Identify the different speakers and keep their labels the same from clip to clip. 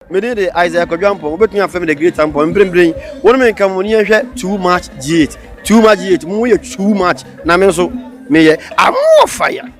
Speaker 1: Me din de Isaiah Kwadwo Ampong. Wobɛtumi afrɛ me the great Ampong. Mprempren yi, wo ne me nka mu ne yɛnhwɛ too much G8. Too much G8. Mo yɛ too much. Na me nso, meyɛ. I'm more fire.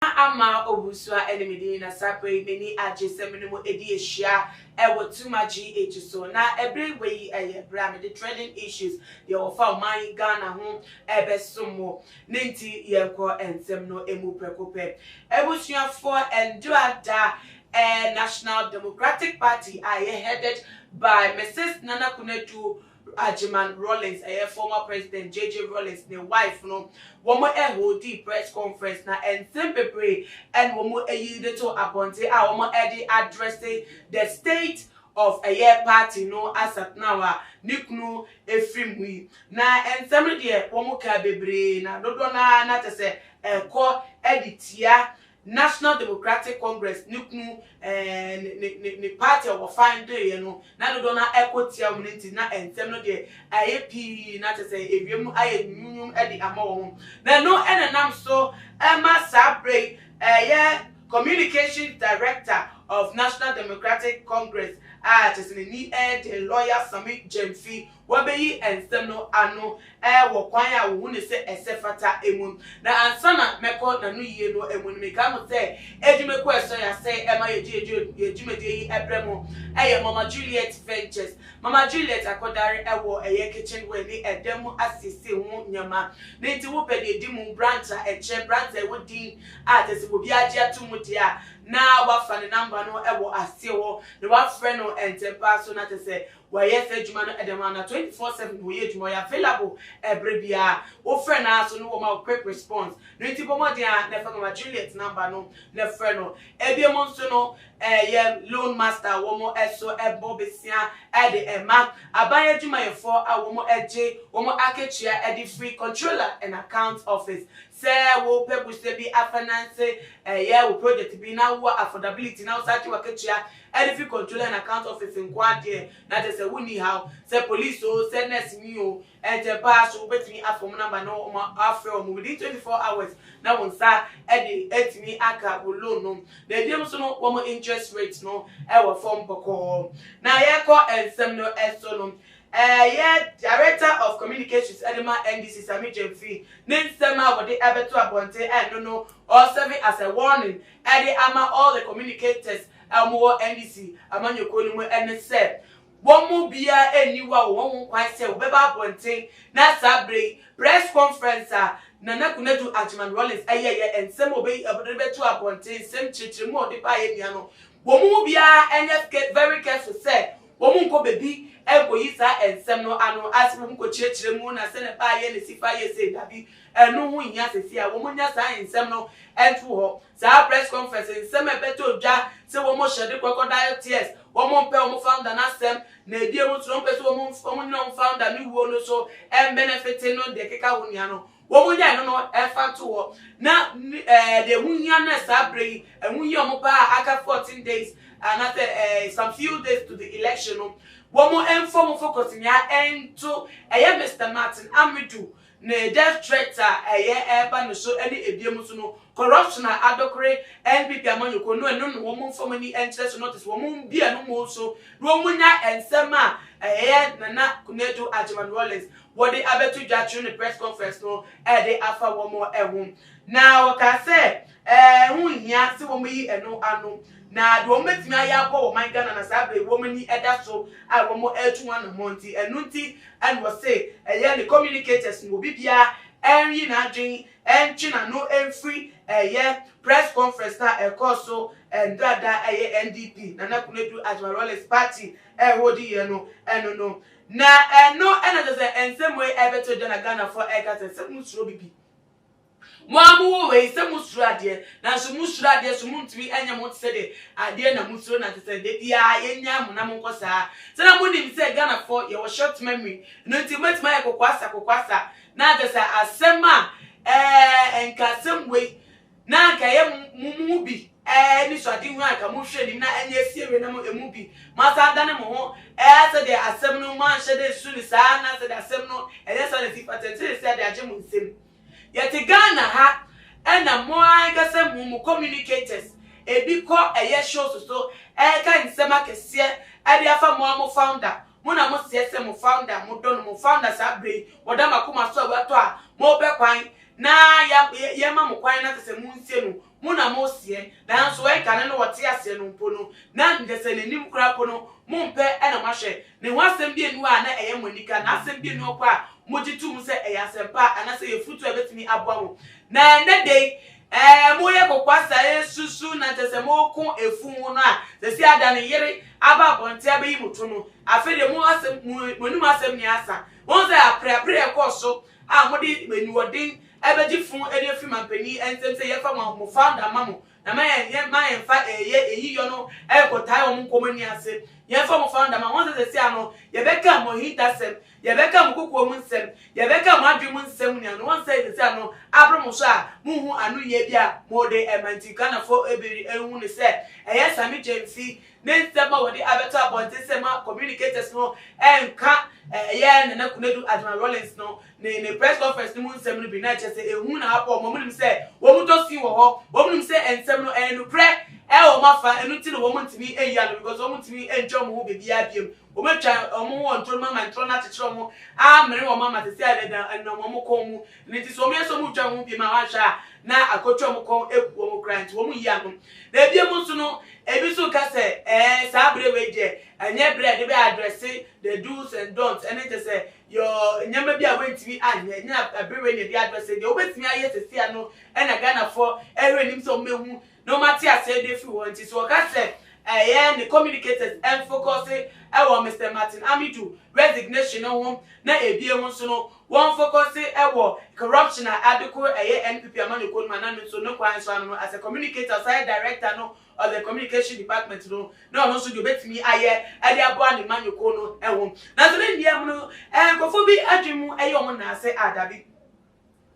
Speaker 2: Na ama Owusu-a ɛne me din na saa bere yi m'ani agye sɛ me ne mo adi ahyia wɔ Tuma GH so. Na bere wei yɛ bere a mede Trending Issues, deɛ wɔfa ɔman yi, Ghana, ho rebɛsom mo. Ne nti yɛnkɔ nsɛm no mu prɛko pɛ. Abusuafoɔ, Ndoa Da National Democratic Party a ɛyɛ headed by Mrs Nana Konadu Bere a Gyman Rawlings, ɛyɛ former President JJ Rawlings ne wife no, wɔn holdii press conference na nsɛm bebree na wɔn ayi de too abɔnten a wɔn de addresse the state of ɛyɛ party no as at now a ne kunu firi mu yi. Na nsɛm no deɛ wɔn kaa bebree na dodoɔ no ara na kyerɛ sɛ ɛkɔ de tia National Democratic Congress ne kunu ne ne party a wɔfa ndoeɛ no na dodoɔ no ara kɔ tia wɔn nti na nsɛm no deɛ ayɛ pii na kyɛ sɛ ewiem no ayɛ nwumnwum de ama wɔn. Na ɛno na ɛnam so ma saa berɛ yi ɛyɛ Communications Director of National Democratic Congress a kyɛ sɛ n'ani yɛ den, Lawyer Sammy Gyamfi Wɔabeyi nsɛm no ano wɔ kwan a wohu no sɛ ɛsɛ fata mu. Na ansa na mɛkɔ n'anoyie no mu no, mekae mo sɛ adwumakuo a ɛsɔ yɛn asɛe ma yɛgye yɛn dwumadie yi brɛ mo yɛ Mama Juliet Ventures. Mama Juliet akɔdare wɔ ɛyɛ kitchenware ne ɛdan mu asiesie ho nneɛma. Ne nti wo pɛ deɛ di mu, branch a ɛkyɛ, branch a ɛwɔ din a kyerɛ sɛ obiara gye ato mu deɛ a, na wafa ne number no wɔ aseɛ hɔ na wafrɛ no ntɛmpaa so na kyerɛ sɛ Wɔyɛ saa adwuma no dɛm ara na twenty four seven na wɔyɛ adwuma, wɔyɛ available ɛberɛ biara. Wofrɛ no ara so no wɔma wo quick response. No nti bɔ mmɔden ara na fa Mama Juliet number no na frɛ no. Ebio mo nso no ɛyɛ loan master a wɔn ɛso ɛbɔ besia ɛde ɛma aban adwumayɛfoɔ a wɔn ɛgye wɔn akatua ɛde firi Controller and Accounts Office. Sɛ wopɛ bosea bi afinance ɛyɛ wo project bi na wowɔ affordability na wosan gye w'akatua Ɛde fi Controller and Account Office nko ara deɛ na kyerɛ sɛ wonni haw. Sɛ Police oo, sɛ Nurse ni oo, ɛnkyɛ paa nso wobɛtumi afa wɔn number na woafrɛ wɔn within twenty four hours na wo nsa de atumi aka wo loan no. Na ɛbinom nso no, wɔn interest rate no wɔ fam bɔkɔɔ. Na yɛrekɔ nsɛm no so no, ɛyɛ Director of Communications de ma NDC Sammy Gyamfi ne nsɛm a wɔde bɛto abɔnten ɛno no ɔreserve as a warning ɛde ama all the communicators a wɔwɔ NDC amanyɔkuo no mu ne sɛ, wɔn mu biara nni hɔ a wɔwɔ ho kwan sɛ wɔbɛba abɔnten na saa berɛ yi press conference a Nana Konadu Agyeman Rawlings yɛeɛ, nsɛm a ɔbɛyi ɔde bɛto abɔnten, nsɛm kyerɛkyerɛmu a ɔde baeɛ nyinaa no, wɔn mu biara nyɛ very careful sɛ wɔnkɔ baabi nkɔyi saa nsɛm no ano ase, wɔnkɔkyerɛkyerɛ mu na sɛdeɛ ɛbaeɛ na ɛsi fa yɛ sei, dabi. Ɛno ho nhia seesei a wɔanya saa nsɛm no ato hɔ. Saa press conference nsɛm a ɛbɛtɔ dwa sɛ wɔhyɛ de crocodile tears, wɔmpɛ wɔn founder no asɛm, na ɛdi emu nso na wɔmpɛ sɛ wɔnyina wɔn founder no wuo no so mmɛnɛfete no de keka ho nea no, wɔnya ɛno no fa to hɔ na deɛ ɛho hia no saa berɛ yi, ɛho hia wɔn paa a aka 14 days anaasɛ some few days to the election no, wɔmfa wɔn focus nyinaa nto ɛyɛ Mister Martin Amedu ne death threats a ɛyɛ ɛreba no so ne ebien mu so no corruption a adokore NPP amanyɔkuo no ɛno na wɔn mfa wɔn ani nkyerɛ so no te sɛ wɔn mmue wɔn mu nso na wɔn nya nsɛm a ɛyɛ Nana Konadu Agyeman Rawlings wɔde abɛto dwa through ne press conference no ɛde afa wɔn ho na wɔkaa sɛ Ɛho nhia sɛ wɔyi ɛno ano, na deɛ wɔbɛtumi ayɛ aboa wɔ ɔman Ghana na saa berɛ yi wɔn ani da so a wɔretu ho anammɔn nti, ɛno nti na wɔse ɛyɛ ne communicators no, obi biara nyi n'adwene ntwe n'ano mfiri ɛyɛ press conference no a ɛkɔɔ so ɛnda da a ɛyɛ NDP, Nana Konadu Agyemang Rawlings party ɛreholdi yɛ no ɛno no. Na ɛno na kyerɛ sɛ nsɛm wei ɛrebɛto dwa na Ghanafoɔ ɛreka sɛ sɛ monsuro bibi. Mo a mowɔ ha yi, sɛ mosuro adeɛ, nanso mosuro adeɛ so montumi nyɛ mo ho te sɛ deɛ adeɛ na mosuro na te sɛ da biara yɛnyaa mo na monkɔ saa. Sɛ na monim sɛ Ghanafoɔ yɛwɔ short memory, ɛno nti mobɛtumi ayɛ kokoasa kokoasa na anka sɛ asɛm a ɛɛ nka asɛm wei na anka ɛyɛ mo mo mu bi ɛɛ anisoadehunu a anka mohwɛ anim na ɛnyɛ asie wei na mo ɛmu bi moasan adane mo ho ɛɛ sɛ deɛ asɛm no moanhyɛ dɛ nsu no saa na sɛ deɛ asɛm no ɛnyɛ saa na ɛsi fata ɛnti ne sɛ de agye mo nsam. Yɛte Ghana ha ɛna mo ankasa mu mo communicators ebi kɔ ɛyɛ shows so ɛɛka nsɛm akɛseɛ ɛde afa mo a mo founder mo na mo seɛ sɛ mo founder mo dɔ no mo founder saa berɛ yi wɔda mo akoma so a watɔ a mo pɛ kwan na yɛma mo kwan na sɛ sɛ mo nsie no Mo na mo seɛ, nanso ɛ kane no ɔte aseɛ no mpo no na nkyɛsɛ n'anim koraa mpo no mo mpɛ na mo ahwɛ ne ho asɛm bianu a na ɛyɛ mo anika na asɛm bianu ɔkɔ a mo gye to mu sɛ ɛyɛ asɛmpa anasɛ ɛyɛ futuo a ɛbɛtumi aboa mo na ɛnɛ da yi ɛɛ mo yɛ kokoa saa ɛsusu na nkyɛsɛ mo ko ɛfu ho no a sɛsi ada ne yere aba abɔnte abɛyi mo to no afei deɛ mo asɛm mo anim asɛm nyɛ asa wɔn sɛ apreapre ɛkɔɔ so a mode aniwɔden bɛgye fo de afiri mampanyin nsam sɛ yɛmfa mo mo founder mma mo na ma yɛn yɛn ma yɛmfa ɛyɛ eyi yɔ no ɛrekɔtae wɔn nkɔmmɔ nni ase yɛmfa mo founder ma wɔn sɛ sɛsɛ ano yɛbɛka mo ahintasɛm yɛbɛka mo kokoa mu nsɛm yɛbɛka mo adwene mu nsɛm nea no wɔn sɛ sɛsɛ ano abere mo so a monhu ano yie bi a mode ɛma nti Ghanafo bere ɛhu no sɛ ɛyɛ same gyamfi ne nsɛm a wɔde abɛto abɔnten sɛ ma communicators no nka ɛyɛ Nana Konadu Adjumah Rawlings no ne ne press conference no mu nsɛm no bi, na ɛkyerɛ sɛ ehu na apɔw wɔn. Wɔnim sɛ wɔn tɔ sin wɔ hɔ. Wɔnim sɛ nsɛm no ɛyɛ nokorɛ ɛwɔ wɔn afa, ɛno nti na wɔn ntumi nyi ano because wɔn ntumi ntwa wɔn ho baabiara biom. Wɔn atwa wɔn ho wɔ ntoro no mu ama ntoro no akyekyere wɔn, amene wɔn ama sɛsɛɛ adɛdɛn ɛnenam wɔn kɔn mu Ɛno nti sɛ wɔyɛ sɛ wɔretwa wɔn ho pii ma wɔanhwɛ a, na akɔtwa wɔn kɔn abu wɔn koraa nti wɔn nyi ano. Na bio nso no, ebi nso reka sɛ, Ɛɛ, saa bere wei deɛ, ɛnyɛ bere a yɛde bɛ addresse the do's and don'ts, ɛne kyerɛ sɛ, yɔ, nneɛma bi a woantumi anyɛ, ɛnyɛ bere wei na yɛde addresse, deɛ wobɛtumi ayɛ seesei ara no na Ghanafoɔ rehwɛ anim sɛ wɔbɛhu na wɔate aseɛ de afiri hɔ. Nti sɛ wɔka sɛ, ɛɛ, ne communicators mfocuse wɔ Mister Martin Amidu resignation no ho na ebio nso no, Wɔn focuse ɛwɔ corruption a ade koro ɛyɛ NPP amanyɔkuo no mu ana no nso no kwan so ano no as a communicator ɔsan yɛ director no of the communication department no na ɔno nso deɛ ɔbɛtumi ayɛ ɛde aboa ne manyɔkuo no ɛho nanso ne nneɛ mu no ɛɛ nkorɔfoɔ bi adwene mu ɛyɛ wɔn naase a dabi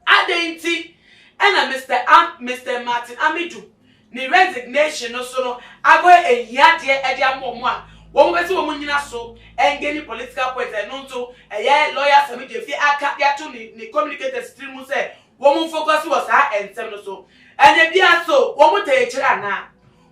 Speaker 2: adɛn nti ɛna Mister Am Mister Martin Amidu Ne resignation no so no agoyɛ ahiadeɛ de ama wɔn a wɔn pɛ sɛ wɔn nyina so ɛnge ne political points ɛno nso ɛyɛ lawyer Asami Gyefie aka de ato ne ne communicators tiri mu sɛ wɔn nfocus wɔ saa nsɛm no so ɛnɛ biara so wɔn tɛɛ kyerɛ anaa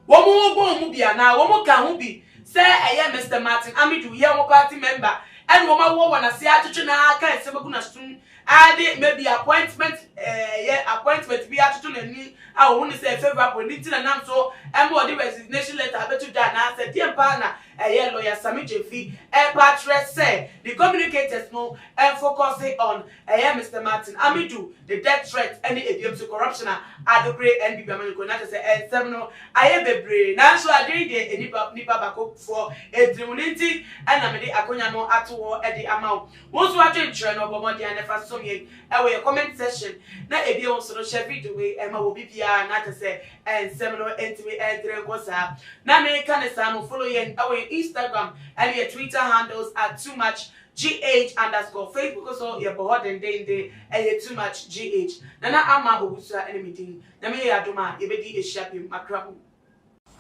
Speaker 2: wɔn ho bɔ wɔn mu bi anaa wɔn ka ho bi sɛ ɛyɛ Mister Martin Amidu yɛ wɔn party member ɛna wɔn awɔ wɔn ase atwetwe na aka nsɛm agu n'asom Ara ne maybe appointment ɛɛyɛ appointment bi atoto n'ani a ɔhu no sɛ favourable ne nti na nam so ma ɔde resignation letter abɛto dwa anaa sɛ deɛn pa ara na ɛyɛ Lawyer Sammy Gyamfi ɛɛpɛ akyerɛ sɛ ne communicators no mfocuse on ɛɛyɛ Mister Martin Amidu ne death threat ɛne ɛbiam nso corruption a adokore NBB amanyɔkuo no akyɛ sɛ ɛnsɛm no ayɛ bebree nanso adwene yi deɛ nnipa nnipa bakofoɔ ɛtirim no nti ɛna mede akonya no ato hɔ ɛde ama wo Wo nso adwenkyerɛ no, bɔ mmɔden a na fa som yɛn wɔ yɛn comment section, na ebio nso no hyɛ video wei ma wɔ obi biara na kyɛ sɛ nsɛm no ntumi ntere nkɔ saa. Na meka no saa no follow yɛn wɔ yɛn Instagram ne yɛn Twitter handles at too much gh underscore Facebook nso yɛbɔ hɔ dendeenden ɛyɛ too much gh. Nana Ama Owusu ne me din. Nyame yɛ yɛn adom a yɛbɛdi ahyia bio. Makra mu.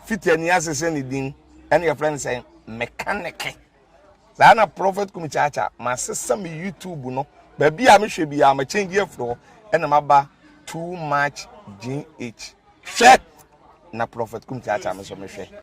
Speaker 2: Fiti
Speaker 3: ani ase sɛ ne din ɛna yɛfrɛ no sɛ mekaneke. Saa na Prophet Kumi Kyaakya masesa me YouTube no baabi a mehwɛ biara ma change afiri hɔ ɛna maba too much GH. Hwɛ na Prophet Kumi Kyaakya me nso mehwɛ.